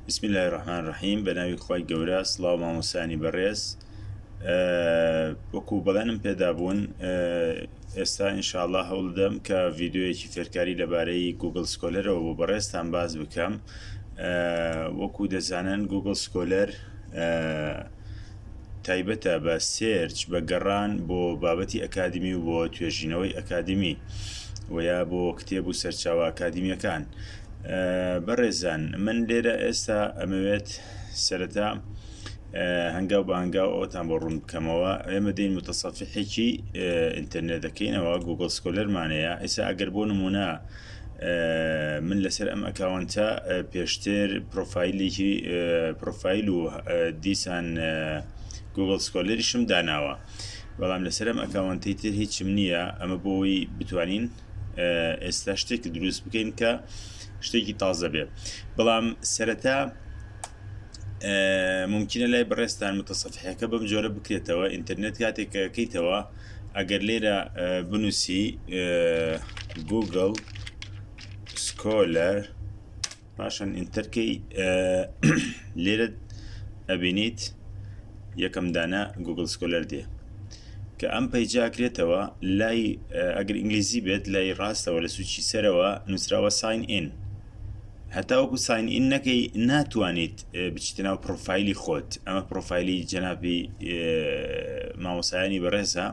بسم الله الرحمن الرحیم بە ناوی خی گەورە سلااو مامۆسانی بەڕێز وەکو بەڵێنم پێدابوون ئێستا ئینشاءله هەوڵدەم کە ڤیددیوەکی فێرکاری لەبارەی گوگل سکۆلەرەوە بۆ بەڕێزتان باز بکەم وەکو دەزانن گوگل سکۆلەر تایبەتە بە سێرچ بە گەڕان بۆ بابەتی ئەکادمی و بۆ توێژینەوەی ئەکادمی وەیا بۆ کتێب و سەرچاوە ئەکادمیەکان بەڕێزان من لێرە ئێستا ئەمەوێت سەرەتا هەنگاو بە هەنگاو ئەوتان بۆ ڕوون بکەمەوە ئێمە دەین متەسەفحێکی ئینتەرنێت دەکەینەوە گوگل سکۆلەرمانەیە ئێستا ئەگەر بۆ نمونە من لەسەر ئەم ئەکاونتە پێشتر پرۆفایلێکی پرۆفایل و دیسان گوگل سکۆلەریشم داناوە بەڵام لەسەرم ئەکاونتی تر هیچم نییە ئەمە بۆی بتوانین ئێستا شتێک دروست بکەین کە شتێکی تازە بێت بەڵام سەرەتا ممکنە لای بەڕێستان متەسەفحەکە بەم جۆرە بکرێتەوە ئینتەرنێت کاتێک کەکەیتەوە ئەگەر لێرە بنووسی گوگل سکۆلەر پاشان ئینتەر کەی لێرە ئەبینیت یەکەم دانە گوگل سکۆلەر دێ کە ئەم پەیجاکرێتەوە لای ئەگەر ئینگلیزی بێت لای ڕاستەوە لە سوچی سەرەوە نووسراوە ساین ئین هەتاوەکو ساین ئین نەکەی ناتوانیت بچیتە ناو پرۆفایلی خۆت ئەمە پرۆفایلی جەنابی مامۆسایانی بەڕێزە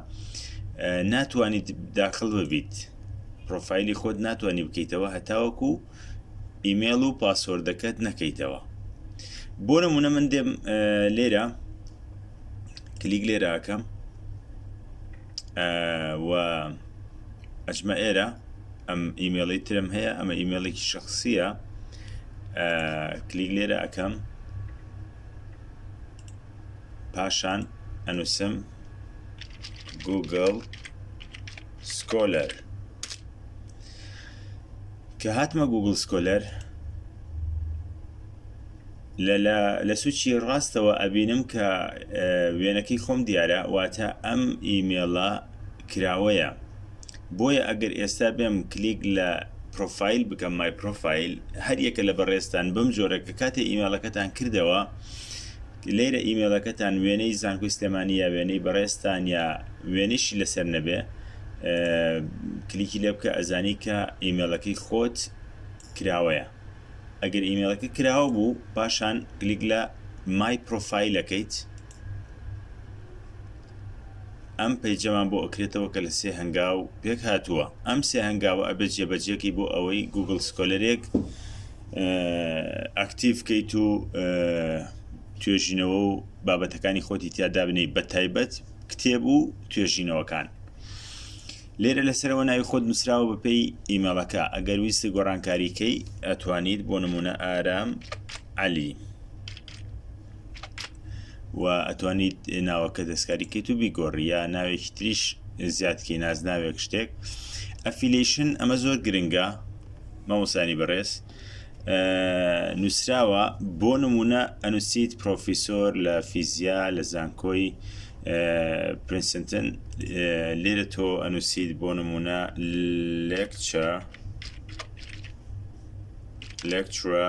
ناتوانیت داخل ببیت پرۆفایلی خۆت ناتوانانی بکەیتەوە هەتاوەکو ئیمێڵ و پاسۆردەکەت نەکەیتەوە بۆ نمونە من دێم لێرە کلیک لێراکەم و ئەجمە ئێرە ئەم ئیمێڵی ترم هەیە ئەمە ئیمێڵێکی شخصیە کلیک لێرە ئەەکەم پاشان ئەنووسم گوگل سکۆلەر کە هاتمە گوگڵ سکۆلەر لە سوچی ڕاستەوە ئەبینم کە وێنەکەی خۆم دیارە واتە ئەم ئیمێڵە کراوەیە بۆیە ئەگەر ئێستا بێم کلیک لە پرۆفایل بکەم مای پرۆفایل هەر یەکە لە بەڕێستان بم جۆرە کە کاتێ ئیمێڵەکەتان کردەوە لێرە ئیمێڵەکەتان وێنەی زانکۆی سلێمانی یا وێنەی بەڕێزتان یا وێنەیشی لەسەر نەبێ کلیکی لێ بکە ئەزانی کە ئیمێڵەکەی خۆت کراوەیە ئەگەر ئیمێڵەکە کراوە بوو پاشان گلیک لە مای پرۆفایلەکەیت ئەم پەیجەمان بۆ ئەکرێتەوە کە لە سێ هەنگاو پێک هاتووە ئەم سێ هەنگاوە ئەبێت جێبەجێکەی بۆ ئەوەی گوگل سکۆلەرێک ئەکتیڤ کەیت و توێژینەوە و بابەتەکانی خۆتی تیادا بنەی بە تایبەت کتێب و توێژینەوەکان لێرە لەسەرەوە ناوی خۆت نووسراوە بەپێی ئیمەڵەکە ئەگەر ویستی گۆڕانکاریکەی ئەتوانیت بۆ نمونە ئارام علی و ئەتوانیت ناوەکە دەستکاری کەیت و بیگۆڕی یا ناوێکی تریش زیادکەی نازناوێک شتێک ئەفیلیشن ئەمە زۆر گرنگە مەمۆسانی بەڕێز نووسراوە بۆ نمونە ئەنووسیت پرۆفیسۆر لە فیزیا لە زانکۆی پرنسنتن لێرە تۆ ئەنووسیت بۆ نمونە لێکچە لێکچرە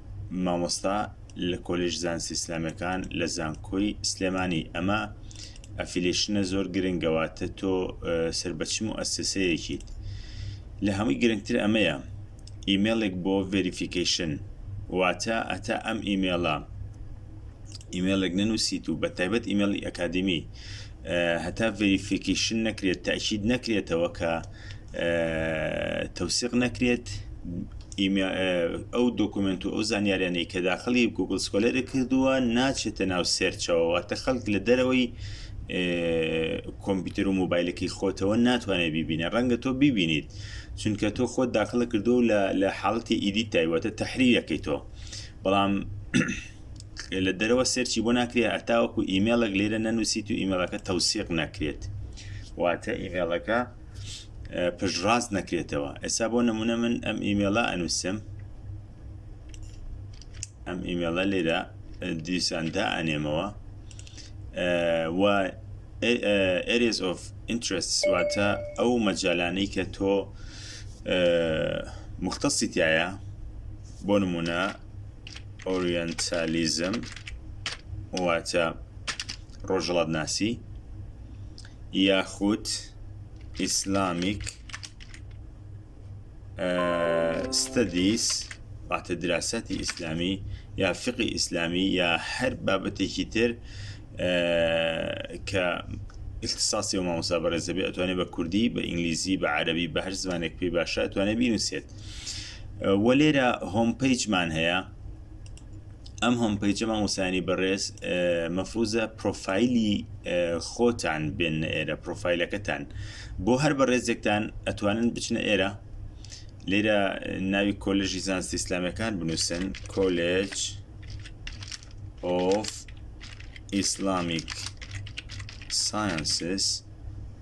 مامۆستا لە کۆلێژ زانستە ئیسلامیەکان لە زانکۆی سلێمانی ئەمە ئەفیلشنە زۆر گرنگەواتە تۆ سەر بەچم و ئەسسەیەکیت لە هەمووی گرنگتر ئەمەیە ئیمێڵێک بۆ ڤریفیکیشن واتە ئەتا ئەم ئیمێڵە ئیمێڵێک نەنووسیت و بە تایبەت ئیمێڵی ئەکادمی هەتا ڤریفیکیشن نەکرێت تاکیید نەکرێتەوە کە تەوسیق نەکرێت ئەو دۆکومنت و ئەو زانیاریانەی کە داخلی گوگل سکۆلەرە کردووە ناچێتە ناو سێرچەوە واتە خەڵک لە دەرەوەی کۆمپیوتەر و موبایلەکەی خۆتەوە ناتوانێت بیبینە ڕەنگە تۆ ببینیت چونکە تۆ خۆت داخلە کردو لە حاڵەتی ئیدی تایوەتە تحریەکەی تۆ بەڵام لە دەرەوە سێرچی بۆ ناکرێت هەتاوەکو ئیمێڵێک لێرە نەنووسیت و ئیمێڵەکە تەوسیق نەکرێت واتە ئیمێڵەکە پشتڕاست نەکرێتەوە ئێستا بۆ نمونە من ئەم ئیمێڵە ئەنووسم ئەم ئیمێڵە لێرە دیساندا ئەنێمەوە و areas of interest واتە ئەو مەجالانەی کە تۆ مختەسیتایە بۆ نمونە ئۆریەنتالیزم واتە ڕۆژهەڵاتناسی یاخود ئیسلامیک ستەدیس واتە دراسەتی ئیسلامی یا فقی ئیسلامی یا هەر بابەتێکی تر کە اختصاصی و مامۆسا بەڕێزەبێ ئەتوانێت بە کوردی بە ئینگلیزی بە عەربی بە هەر زمانێک پێی باشە ئەتوانێت بینوسێت و لێرە هۆم پیجمان هەیە ئەم هۆم پیجە مامۆسانی بەڕێز مەفروزە پرۆفایلی خۆتان بێن ئێرە پرۆفایلەکەتان بۆ هەر بەڕێزێکتان ئەتوانن بچنە ئێرە لێرە ناوی کۆلژی زانستی ئیسلامەکان بنووسن کۆلێج ئۆف ئیسلامیک ساینسس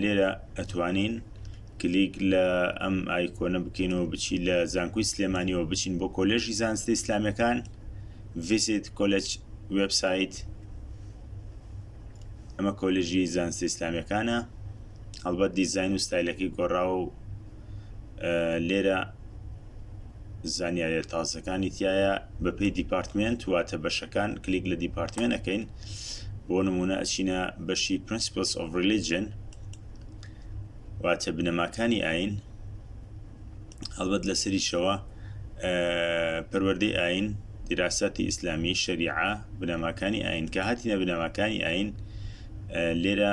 لێرە ئەتوانین کلیک لە ئەم ئایکۆنە بکەینەوە بچی لە زانکوی سلێمانیەوە بچین بۆ کۆلێژی زانستی ئیسلامەکان ڤیسیت کۆلج وبسایت ئەمە کۆلژی زانستی ئیسلامەکانە هەڵبەت دیزین و ستایلەکەی گۆڕاوە و لێرە زانیارە تازەکانی تایە بەپی دیپارتمنت واتە بەشەکان کلیک لە دیپارتمنت ئەەکەین بۆ نمونە ئەچینە بەشی پرنسپلس of religion واتە بنەماکانی ئاین هەڵبەت لەسەریشەوە پەروەردەی ئاین دیراساتی ئیسلامی شەریعە بنەماکانی ئاین کە هاتیە بنەماکانی ئاین لێرە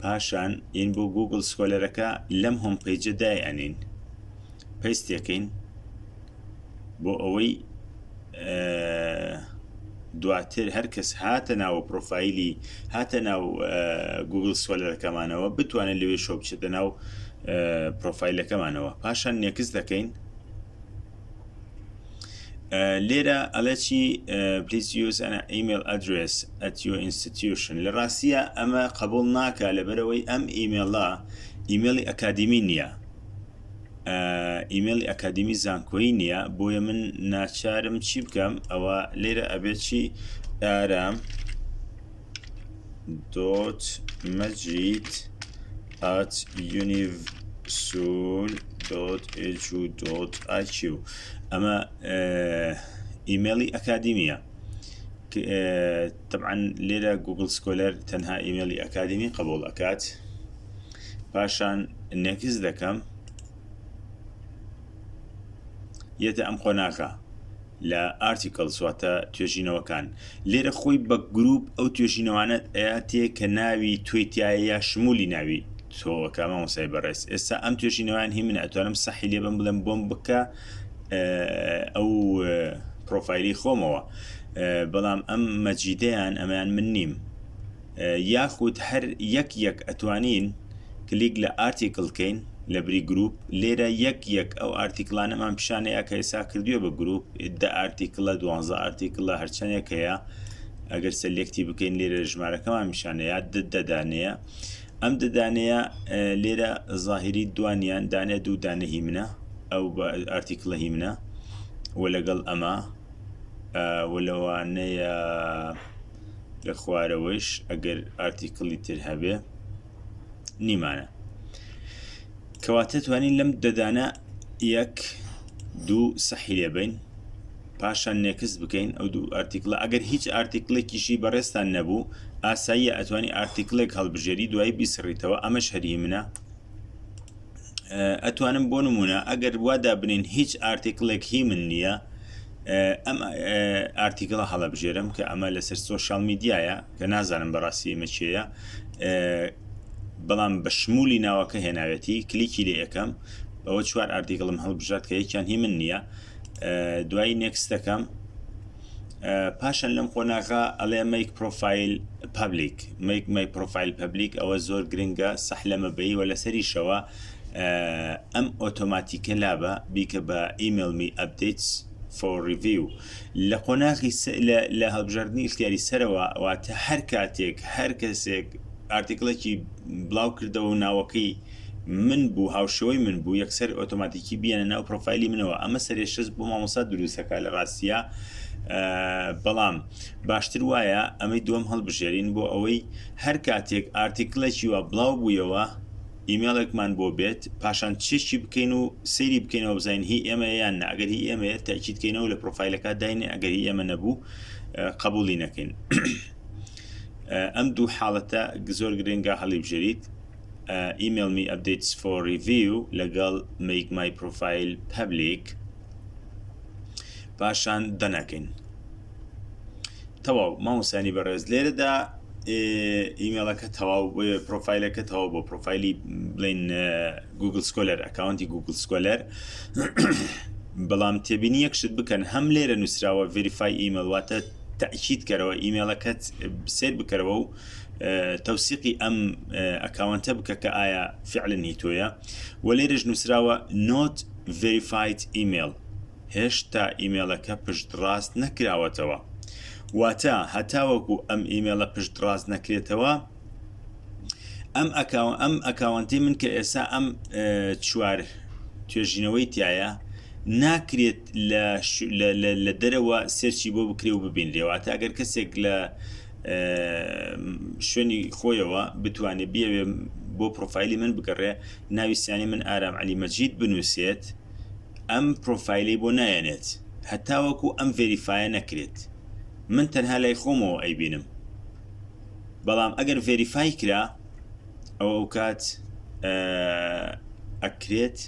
پاشان ئین بۆ گوگل سکۆلەرەکە لەم هۆم پەیجە دای ئەنین پەیستێکەین بۆ ئەوەی دواتر هەر کەس هاتە ناوە پرۆفایلی هاتە ناو گوگل سۆلەرەکەمانەوە بتوانێت لەوێ شۆ بچێتە ناو پرۆفایلەکەمانەوە پاشان نێکس دەکەین لێرە ئەڵێ چی پلیس یوز ئەنا ئیمێل ئەدرس ئەتیۆ ئینستتیوشن لە ڕاستیە ئەمە قبول ناکە لەبەرەوەی ئەم ئیمێڵە ئیمێڵی ئەکادیمی نییە ئیمێڵی ئەکادیمی زانکۆی نییە بۆیە من ناچارم چی بکەم ئەوە لێرە ئەبێت چی ئارام دوت مەجید ئات یونیڤ سول دوت ئێجو دوت ئایکیو ئەمە ئیمێڵی ئەکادیمیە طبعا لێرە گوگل سکۆلەر تەنها ئیمێڵی ئەکادیمی قبول ئەکات پاشان نێکس دەکەم یەتە ئەم قۆناغە لە Articles واتە توێژینەوەکان، لێرە خۆی بە گرووپ ئەو توێژینەوانەت ئەیاتێ کە ناوی تۆی تیایە یا شمولی ناوی تۆکە مامۆستای بەڕێز ئێستا ئەم توێژینەوەیان هی منە ئەتوانم سەحی لێ بەم بڵێم بۆم بکە ئەو پڕۆفایلی خۆمەوە بەڵام ئەم مەجیدەیان ئەمەیان من نیم یاخود هەر یەک یەک ئەتوانین کلیک لە ئارتیکل کەین لە بری گروپ لێرە یەک یەک ئەو ئارتیکلانەمان پیشانەیە کە ئێسا کردوێ بە گروپ دە ئارتیکلە دوانزە ئارتیکلە هەرچەندێک هەیە ئەگەر سەلێکتی بکەین لێرە ژمارەکەمان میشانەیە دەدانەیە ئەم دەدانەیە لێرە ظاهری دوانیان دانێ دوو دانە هی منە ئەو بە ئارتیکلە هی منە و لەگەڵ ئەمە و لەوانەیە لە خوارەوەیش ئەگەر ئارتیکڵی تر هەبێ نیمانە کەواتە توانین لەم دەدانە یەک دوو سەحی لێبین پاشان نێکست بکەین ئەو دوو ئارتیکلە ئەگەر هیچ ئارتیکلێکیشی بەڕێستان نەبوو ئاساییە ئەتوانی ئارتیکلێک هەڵبژێری دوایی بیسڕیتەوە ئەمە شەری منە ئەتوانم بۆ نمونە ئەگەر وادا بنین هیچ ئارتیکلێک هی من نییە ئەم ئارتیکڵە هەڵەبژێرم کە ئەمە لەسەر سوۆشال میدیایە کە نازانم بەڕاستی ئمە چێە بەڵام بە شمولی ناوەکە هێناوێتی کلیکی لە یەکەم ئەوە چوار ئارتیکڵم هەڵبژات کە یەکیان هی من نییە دوایی نێکستەکەم پاشان لەم قۆناغا ئەڵێ مەیک پرۆفایل پبلیک مەیک مەی پرۆفایل پبلیک ئەوە زۆر گرنگە سەح لە مەبەی وە لەسەریشەوە ئەم ئۆتۆماتیکە لابە بیکە بە ئیملمی ئەبدیتس فۆڕڤیو لە قۆناغی لە هەڵبژاردننی اختیاری سەرەوە واتە هەر کاتێک هەر کەسێک ئارتیکلێکی بڵاو کردەوە ناوەکەی من بوو هاوشێوەی من بوو یەکسەر ئۆتۆماتیکی بیەنە ناو پرۆفایلی منەوە ئەمە سەرێشەست بۆ مامۆسا دروستەکە لە ڕاستە بەڵام باشتر وایە ئەمەی دوم هەڵبژێرین بۆ ئەوەی هەر کاتێک ئارتیکلێکی وە بڵاو بوویەوە ئیمێڵێکمان بۆ بێت پاشان چێکی بکەین و سەیری بکەینەوە بزین هی ئێمە یان ناگەر هی ئێمە تاکییتکەینەوە لە پرۆفایلەکە داین ئەگەری ئێمە نەبوو قبولی نەکەین ئەم دوو حاڵەتە زۆر گرنگە هەڵی بژێریت email me updates for review لەگەڵ make my profile public پاشان دەنەکەین تەواو مامۆسانی بەڕێز لێرەدا ئیمێڵەکە تەواو پرۆفایلەکە تەواو بۆ پرۆفایلی بڵین گوگل سکۆلەر ئەکاونتی گوگل سکۆلەر بەڵام تێبینی یەک شت بکەن هەم لێرە نووسراوە ڤریفای ئیمەڵواتە تاکییت کەرەوە ئیمێڵەکەت سێر بکەرەوە و تەوسیقی ئەم ئەکاونتە بکە کە ئایا فعلن هی تۆیە و لێرەش نووسراوە not verified email هێشتا ئیمێلەکە پشت ڕاست نەکراوەتەوە واتە هەتاوەکو ئەم ئیمێلە پشت ڕاست نەکرێتەوە ئەم ئەکاو ئەم ئەکاونتی من کە ئێسا ئەم چوار توێژینەوەی تایە ناکرێت لە دەرەوە سێرچی بۆ بکرێ و ببینرێەوە تاگەر کەسێک لە شوێنی خۆیەوە بتوانێت بیاوێ بۆ پرۆفایلی من بگەڕێ ناوی سیانی من ئارام علی مەجید بنووسێت ئەم پرۆفایلی بۆ نایەنێت هەتاوەکو ئەم ڤێریفاە نەکرێت من تەنها لای خۆمەوە ئەیبینم بەڵام ئەگەر ڤێریفای کرا ئەو ئەو کات ئەکرێت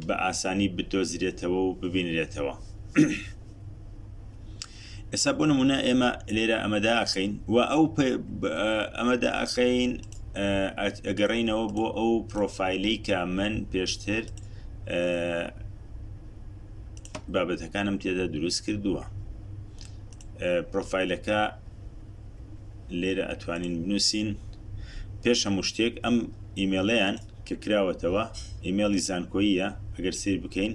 بە ئاسانی بدۆزرێتەوە و ببینرێتەوە. ئێستا بۆ نمونە ئێمە لێرە ئەمەدا ئەخەین و ئەو ئەمەدا ئەخەین ئەگەڕینەوە بۆ ئەو پرۆفایلی کە من پێشتر بابەتەکانم تێدا دروست کردووە پرۆفایلەکە لێرە ئەتوانین بنووسین پێش هەموو شتێک ئەم ئیمێڵیان کە کراوەتەوە ئیمێڵی زانکۆییە ئەگەر سیر بکەین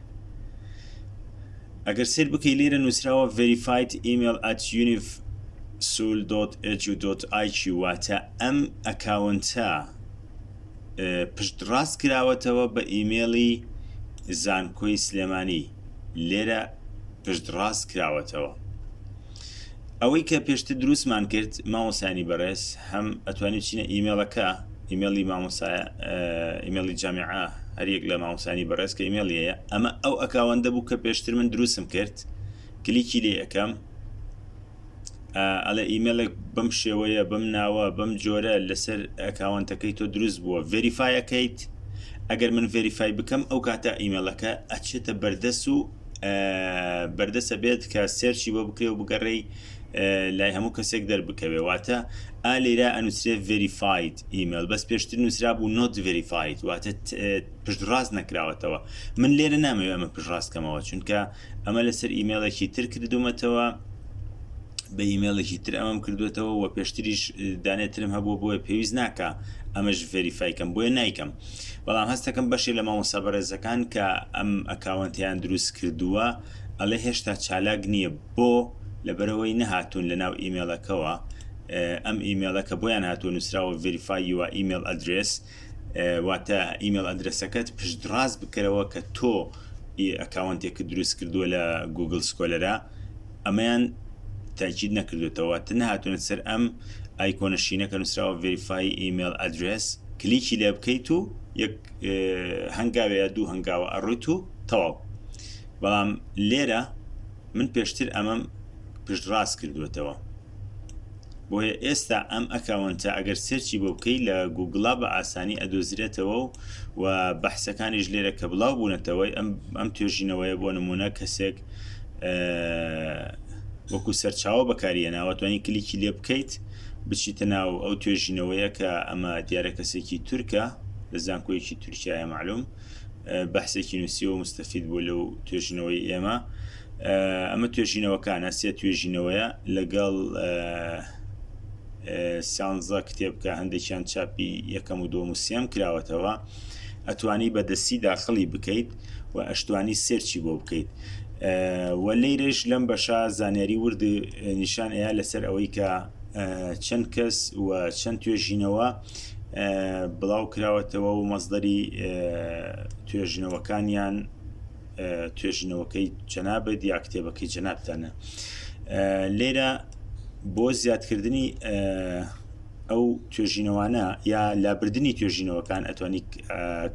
ئەگەر سێر بکەی لێرە نووسراوە verified email at univsul.edu.iq واتە ئەم ئەکاونتە پشت ڕاست کراوەتەوە بە ئیمێڵی زانکۆی سلێمانی لێرە پشت ڕاست کراوەتەوە ئەوەی کە پێشتر دروستمان کرد مامۆسانی بەڕێز هەم ئەتوانین چینە ئیمێڵەکە ئیمێڵی مامۆسایە ئیمێڵی جامیعە هەریەک لە مامۆسانی بەڕێز کە ئیمێڵیەیە ئەمە ئەو ئەکاوەندە بوو کە پێشتر من دروستم کرد کلیکی لێ ئەەکەم ئەلە ئیمێلێک بەم شێوەیە بەم ناوە بەم جۆرە لەسەر ئەکاوانتەکەی تۆ دروست بووە ڤریفاایەکەیت ئەگەر من ڤریفای بکەم ئەو کاتە ئیمێلەکە ئەچێتە بەردەس و بەردەسە بێت کە سێرچی بۆ بکرێ و بگەڕێی لای هەموو کەسێک دەربکەوێ واتە ئا لێرا ئەنووسێ ڤریفاید ئیمەل بەس پێشتر نووسرا بوو نۆت ڤریفاید واتە پشتڕاست نەکراوەتەوە من لێرە نامەوێ ئەمە پشڕاستکەمەوە چونکە ئەمە لەسەر ئیمێڵێکی تر کردومەتەوە بە ئیمێڵێکی تر ئەمەم کردوێتەوە و پێشتریش دانێترم هەبوو بۆیە پێویست ناکە ئەمەش ڤریفایکەم بۆیە نیکەم بەڵام هەستەکەم بەشێ لە مامۆستا بەڕێزەکان کە ئەم ئەکاوەنتەیان دروست کردووە ئەڵێ هێشتا چالاک نییە بۆ لەبەرەوەی نەهاتوون لە ناو ئیمێڵەکەوە ئەم ئیمێڵە کە بۆیان هاتووە نووسراوە ڤریفای یوە ئیمێل ئەدرێس واتە ئیمێل ئەدرسەکەت پشتڕاست بکەرەوە کە تۆ ئەکاونتێکە دروست کردووە لە گوگل سکۆلەرە ئەمەیان تاکید نەکردۆتەوە تە نەهاتونەتە سەر ئەم ئایکۆنە شینە کە نوسراوە ڤریفای ئیمێل ئەدرێس کلیکی لێ بکەیت و یەک هەنگاوێ یا دوو هەنگاوە ئەڕویت و تەواو بەڵام لێرە من پێشتر ئەمەم پشت ڕاست کردوێتەوە بۆیە ئێستا ئەم ئەکاونتە ئەگەر سێرچی بۆ بکەی لە گوگڵا بە ئاسانی ئەدۆزرێتەوە و و بەحسەکانیش لێرە کە بڵاو بوونەتەوەی ئەم ئەم توێژینەوەیە بۆ نمونە کەسێک وەکو سەرچاوە بەکاریە ناوەتوانی کلیکی لێ بکەیت بچیتە ناو ئەو توێژینەوەیە کە ئەمە دیارە کەسێکی تورکە لە زانکۆیەکی تورکایە معلوم بەحسێکی نووسی و مستەفید بوو لەو توێژنەوەی ئێمە ئەمە توێژینەوەکانە سێ توێژینەوەیە لەگەڵ سیانزە کتێبکە هەندێکیان چاپی یەکەم و دۆم و سێم کراوەتەوە ئەتوانی بە دەستی داخلی بکەیت و ئەشتوانی سێرچی بۆ بکەیت و لێرەش لەم بەشە زانیاری ورد نیشان ئەیە لەسەر ئەوەی کە چەند کەس و چەند توێژینەوە بڵاو کراوەتەوە و مەزدەری توێژنەوەکانیان توێژینەوەکەی جەنابت یا کتێبەکەی جەنابتانە لێرە بۆ زیادکردنی ئەو توێژینەوانە یا لابردننی توێژینەوەکان ئەتوانی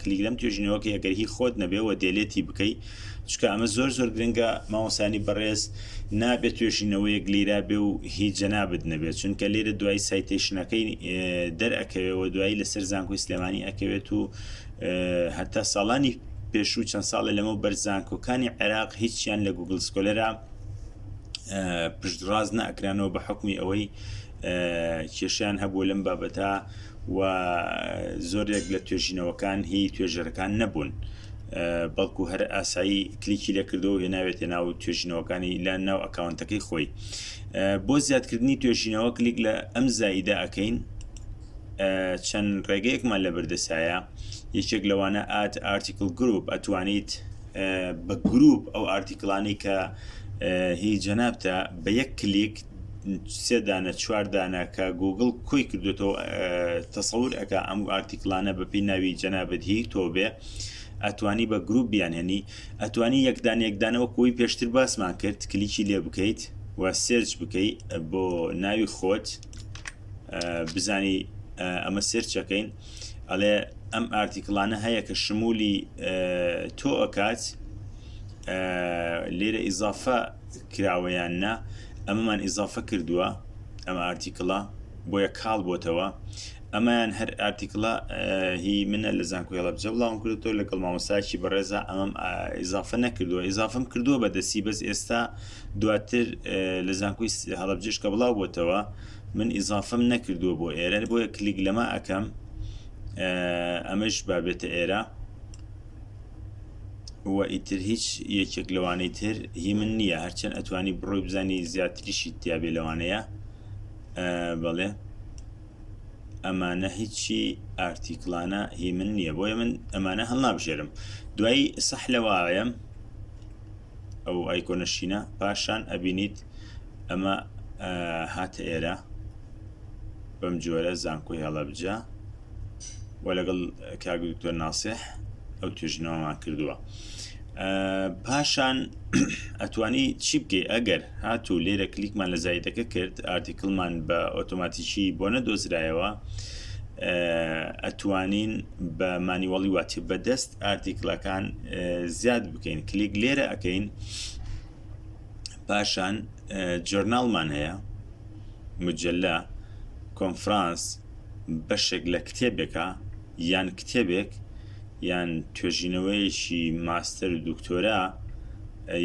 کلیک لەم توێژینەوەکە ئەگەر هی خۆت نەبێەوە دێلێتی بکەی چکە ئەمە زۆر زۆر گرنگە ماوەسانی بەڕێز نابێت توێژینەوەیەک لیرا بێ و هی جەنابت نەبێت چونکە لێرە دوای سایتیشنەکەی دەرەکەوێەوە دوایی لەسەر زانکۆی سلێمانی ئەکەوێت و هەتا ساڵانی پێشوو چەند ساڵێ لەمە بەر زانکۆکانی عێراق هیچیان لە گوگل سکۆلەرە پشتڕاز ناکرانەوە بە حکومی ئەوەی کێشیان هەبوو لەم بابەتە و زۆرێک لە توێژینەوەکان هی توێژەرەکان نەبوون بەڵکو هەر ئاسایی کلیکی لەکردەوە هێ ناوێتە ناو توێژینەوەکانی لە ناو ئەکاونتەکەی خۆی بۆ زیادکردنی توێژینەوە کلیک لە ئەم زایدە ئەەکەین چەند ڕێگەیەکمان لە بەردەسایە یەکێک لەوانە ئات ئارتیکل گروپ ئەتوانیت بە گروپ ئەو ئارتیکلانی کە هی جەنابتە بە یەک کلیک سێدانە چواردانە کە گوگل کۆی کردوێتەوە تەسەور ئەک ئەم ئارتیکلانە بەپی ناوی جەنابەت هی تۆ بێ ئەتوانی بە گروپ بیانێنی ئەتوانی یەکدان یەکدانەوە کۆی پێشتر باسمان کرد کلیکی لێ بکەیت و سێرچ بکەیت بۆ ناوی خۆت بزانی ئەمە سرچەکەین ئەڵێ ئەم ئارتیکلانە هەیە کە شمولی تۆ ئەکات لێرە ئیزافە کراوەیان نا ئەمەمان ئیزافە کردووە ئەم ئارتیکڵە بۆیە کاڵ بۆتەوە ئەمەیان هەر ئارتیکڵە هی منە لە زانکۆی هەڵبجە بڵاوم کردەوە لەگەڵ مامۆساکی بەڕێزا ئەمەم ئیزافە نەکردووە ئیزافم کردووە بە دەسی بەس ئێستا دواتر لە زانکۆی هەڵەبجەش کە بڵاو بۆتەوە من ئیزافەم نەکردووە بۆ ئێرە بۆیە کلیک لەمە ئەکەم ئەمەش بابێتە ئێرە و ئیتر هیچ یەکێک لەوانەی تر هی من نییە هەرچەند ئەتوانی بڕۆی بزانی زیاتریشی تیاابێ لەوانەیە بەڵێ ئەمانە هیچی ئارتیکلانە هی من نییە بۆیە من ئەمانە هەڵنابژێرم دوایی سەح لەواڵەیەم ئەو ئایکۆنە شینە پاشان ئەبینیت ئەمە هاتە ئێرە بەم جۆرە زانکۆی هەڵەبجە و لەگەڵ کاک دکتۆر ناسح ئەو توێژنەوەمان کردووە پاشان ئەتوانی چی بکەی ئەگەر هاتوو لێرە کلیکمان لە زایدەکە کرد ئارتیکلمان بە ئۆتۆماتیکی بۆ نەدۆزرایەوە ئەتوانین بە مانیوەڵی واتی بەدەست ئارتیکلەکان زیاد بکەین کلیک لێرە ئەەکەین پاشان جۆرناڵمان هەیە مجللا کۆنفرانس بەشێک لە کتێبێکە یان کتێبێک یان توێژینەوەیەکی ماستەر و دکتۆرا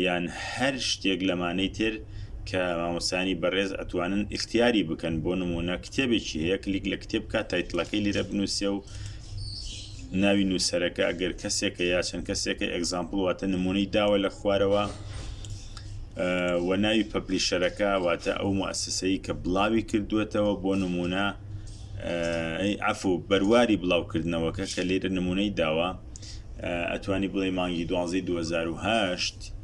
یان هەر شتێک لەمانەی تر کە مامۆسانی بەڕێز ئەتوانن ئختیاری بکەن بۆ نمونە کتێبێکی هەیە کلیک لە کتێب کا تایتلەکەی لێرە بنووسێ و ناوی نووسەرەکە ئەگەر کەسێکە یا چەند کەسێکە ئەگزامپڵ واتە نمونەی داوە لە خوارەوە و ناوی پەپلیشەرەکە واتە ئەو موسسەی کە بڵاوی کردوێتەوە بۆ نمونە ئەفو بەرواری بڵاوکردنەوەکە کە لێرە نمونەی داوە ئەتوانی بڵێ مانگی دوازی 2010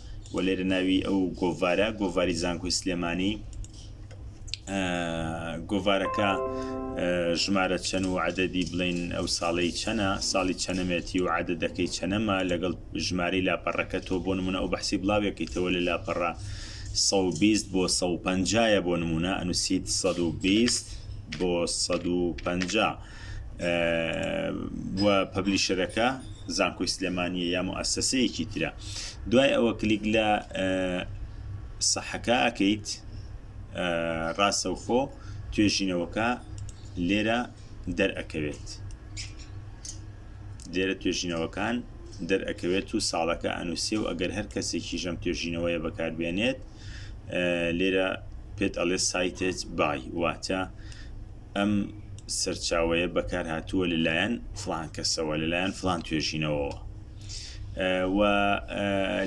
و لێرە ناوی ئەو گۆڤارە گۆڤاری زانکۆی سلێمانی گۆڤارەکە ژمارە چەند و عدەدی بڵین ئەو ساڵی چەنە ساڵی چەنەمێتی و عادەدەکەی چەنەما لەگەڵ ژمارەی لاپەڕەکە تۆ بۆ نمونە ئەو بەحسی بڵاوێکیتەوە لە لاپەڕە 120 بۆ 150 بۆ نمونە ئەنووسیت 120 بۆ 150. و پەبلیشەرەکە زانکۆی سلێمانیە یا موئسسەیەکی ترە دوای ئەوە کلیک لە سەحەکە ئەکەیت ڕاستەوخۆ توێژینەوەکە لێرە دەرئەکەوێت لێرە توێژینەوەکان دەرئەکەوێت و ساڵەکە ئەنووسێ و ئەگەر هەر کەسێکی ژەم توێژینەوەیە بەکاربێنێت لێرە پێت ئەڵێ سایتێت بای واتە ئەم سەرچاوەیە بەکارهاتووە لەلایەن فلان کەسەوە لەلایەن فلان توێژینەوەوە و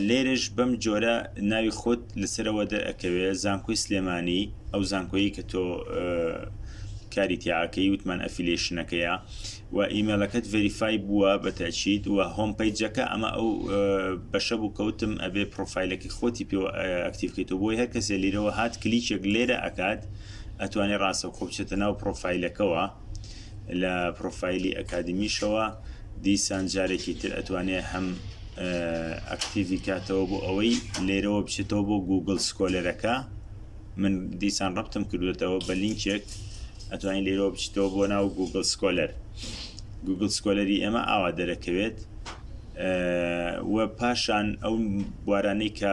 لێرش بەم جۆرە ناوی خۆت لەسەرەوە دەرەکەوێت زانکۆی سلێمانی ئەو زانکۆیی کە تۆ کاری تیاکەی وتمان ئەفیلێشنەکەیە و ئیمێلەکەت ڤریفای بووە بە تاچیت و هۆم پیجەکە ئەمە ئەو بەشە بوو کەوتم ئەبێ پرۆفیلەکەی خۆتی پێ ئەکتیفکەیتەوە بۆی هەر کەسێ لیرەوە هات کلیچێک لێرە ئەکات ئەتوانێ ڕاستەوخۆ بچێتە ناو پڕۆفایلەکەوە لە پڕۆفایلی ئەکادمیشەوە دیسان جارێکی تر ئەتوانێ هەم ئەکتیڤی کاتەوە بۆ ئەوەی لێرەوە بچێتەوە بۆ گوگل سکۆلەرەکە من دیسان ڕپتم کردوێتەوە بە لینکێک ئەتوانین لێرەوە بچیتەوە بۆ ناو گوگل سکۆلەر گوگل سکۆلەری ئێمە ئاوا دەرەکەوێت و پاشان ئەو بوارانەی کە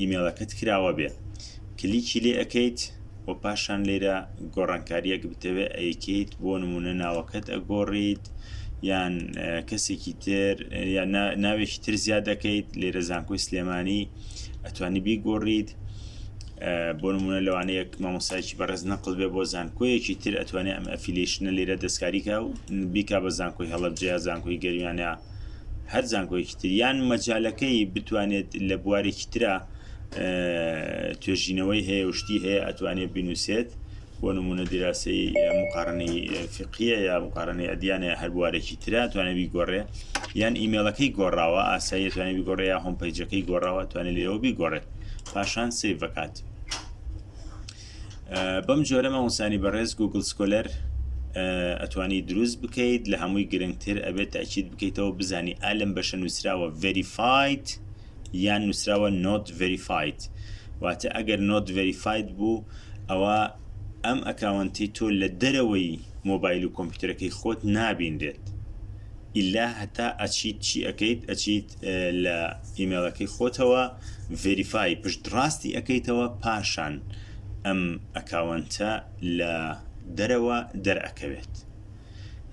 ئیمێڵەکەت کراوە بێ کلیکی لێ ئەکەیت و پاشان لێرە گۆڕانکاریەک بتەوێ ئەیکەیت بۆ نمونە ناوەکەت ئەگۆڕیت یان کەسێکی تر یان ناوێکی تر زیاد دەکەیت لێرە زانکۆی سلێمانی ئەتوانی بیگۆڕیت بۆ نمونە لەوانەیەک مامۆسایکی بەڕێز نەقل بێ بۆ زانکۆیەکی تر ئەتوانێت ئەم ئەفیلیشنە لێرە دەستکاریکە و بیکا بە زانکۆی هەڵبجەیە زانکۆی گەرمیانە هەر زانکۆیەکی تر یان مەجالەکەی بتوانێت لە بوارێکی ترا توێژینەوەی هەیە شتی هەیە ئەتوانێت بینوسێت بۆ نمونە دیراسی مقارنەی فقیە یا مقارنەی ئەدیانە هەر بوارێکی ترا توانێ بیگۆڕێ یان ئیمێلەکەی گۆڕاوە ئاسایی توانێ بگۆڕێ یا هۆم پیجەکەی گۆڕاوە توانێت لێەوە بیگۆڕێت پاشان سیڤکات بەم جۆرە مامۆسانی بەڕێز گوگل سکۆلەر ئەتوانی دروست بکەیت لە هەمووی گرنگتر ئەبێت تاچیت بکەیتەوە بزانی ئالم بەشە نووسراوە ڤریفایت یان نووسراوە نۆت ڤریفایت واتە ئەگەر نۆت ڤریفایت بوو ئەوە ئەم ئەکاونتی تۆ لە دەرەوەی مۆبایل و کۆمپیوتەرەکەی خۆت نابینرێت ئیلا هەتا ئەچیت چی ئەکەیت ئەچیت لە ئیمێڵەکەی خۆتەوە ڤێریفای پشت ڕاستی ئەەکەیتەوە پاشان ئەم ئەکاونتە لە دەرەوە دەرەکەوێت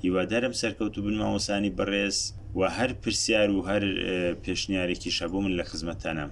هیوادارم سەرکەوتو بن مامۆسانی بەڕێز و هەر پرسیار و هەر پێشنیارێکی شەبوو من لە خزمەتانم